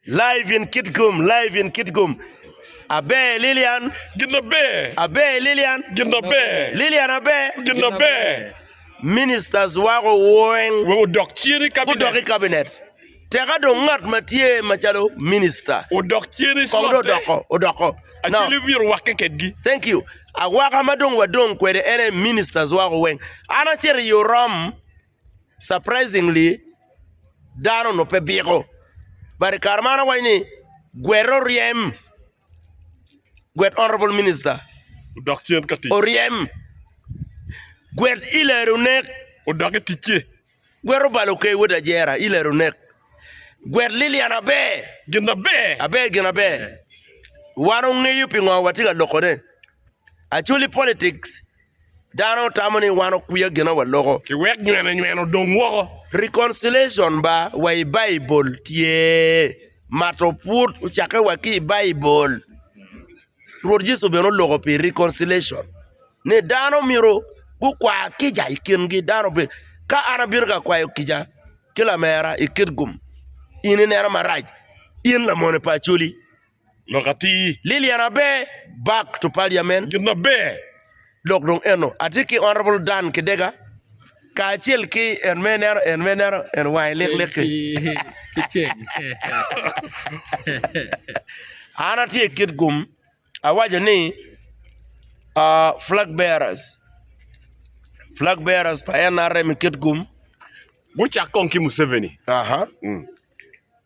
Live in Kitgum, Live in Kitgum, Aber Lilian, Gin aber, Aber Lilian, Gin aber, Lilian aber, Gin aber. Ministers wako weng Wek odok cen i kabinet. gudok i kabinet. Teka dong ngat ma tye macalo minister Odok cen i kong dong slotte. odoko odoko. Now, Acwili myero wakke kedgi. thank you. Awaka ma dong wadong kwede en aye ministers wako weng. An acito i Orom surprisingly dano onongo pe biko but i kare meno awaco ni gwet oryem gwet honorable minister oryem gwet ileru onek gwet obalo okeyi wod ajera ileru onek gwet Lilian aber aber gin aber wan ongeyo pingo watye ka lokone actually politics Dano otamo ni wan okwiya gina wa loko. Ki wek nywene nywene odong woko. Reconciliation ba wa i Baibul tye. Mato pwod ocakke wa ki i Baibul. Rwot Yecu bene oloko pi reconciliation. Ni dano myero gukwa kica i kingi. Dano be, ka an abino ka kwayo kica ki lamera i Kitgum, in ineno marac, in lamone pa Acholi. lok atir. Lillian Abe, Bak to Parliament. Gin maber. Lok dong eno. Atye ki Honourable Dan Kidega kacel ki en me nero, en me nero, en wange lik lik ki. Ki ceng. An atye i kit gum awaco ni ah, flag bearers, flag bearers pa NRM i kit gum. Gucak kong ki Museveni. Aha.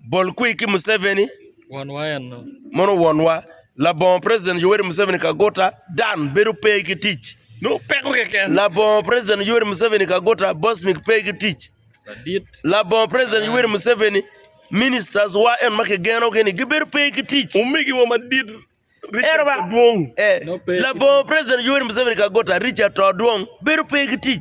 Bol kwi ki Museveni. Wonwa enno. Mono wonwa. Labongo President Yoweri Museveni Kaguta, Dan, bedo pe ki tic. No, peko keken. Labongo President Yoweri Museveni Kaguta, Bosmic pe ki tic. Ladit. Labongo President Yoweri Museveni, Ministers wa en ma kigenogi ni gibedo pe ki tic. Omegi wa madit, Richard Odwong. Eh, labongo President Yoweri Museveni Kaguta, Richard Odwong, bedo pe ki tic.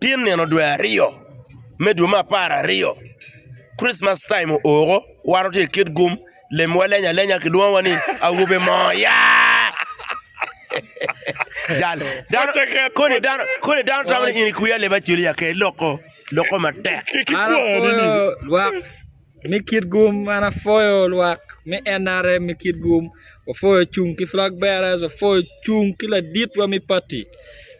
Tye nino dwe aryo me dwe me apar aryo, Christmas time ooko, wan watye ki kit gum, lemwa leny alenya kilwongowa ni awobe moo ya! Jal, dano, koni dano, koni dano tamo ni in i kwiya leba cilo ya ke loko, loko matek. An apwoyo lwak me kit gum, an apwoyo lwak me NRM me kit gum, wapwoyo cung ki flag bearers, wapwoyo cung ki laditwa me pati.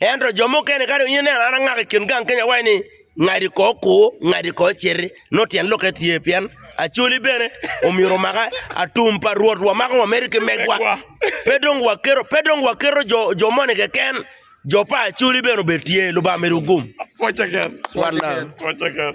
Ento jo mukene ka dong in ineno an angaka i kin gang kenya waci ni ngadi ko oku, ngadi ko ociti, nongo tyen lokke tye pien acoli bene omyero omaka, atum pa Rwot wamako wamede ki megwa. Pe dong waketo, pe dong waketo jo, jo moni keken, jo pa acoli bene obed tye. Lubanga medo gum. Watch again. Watch again. Watch again.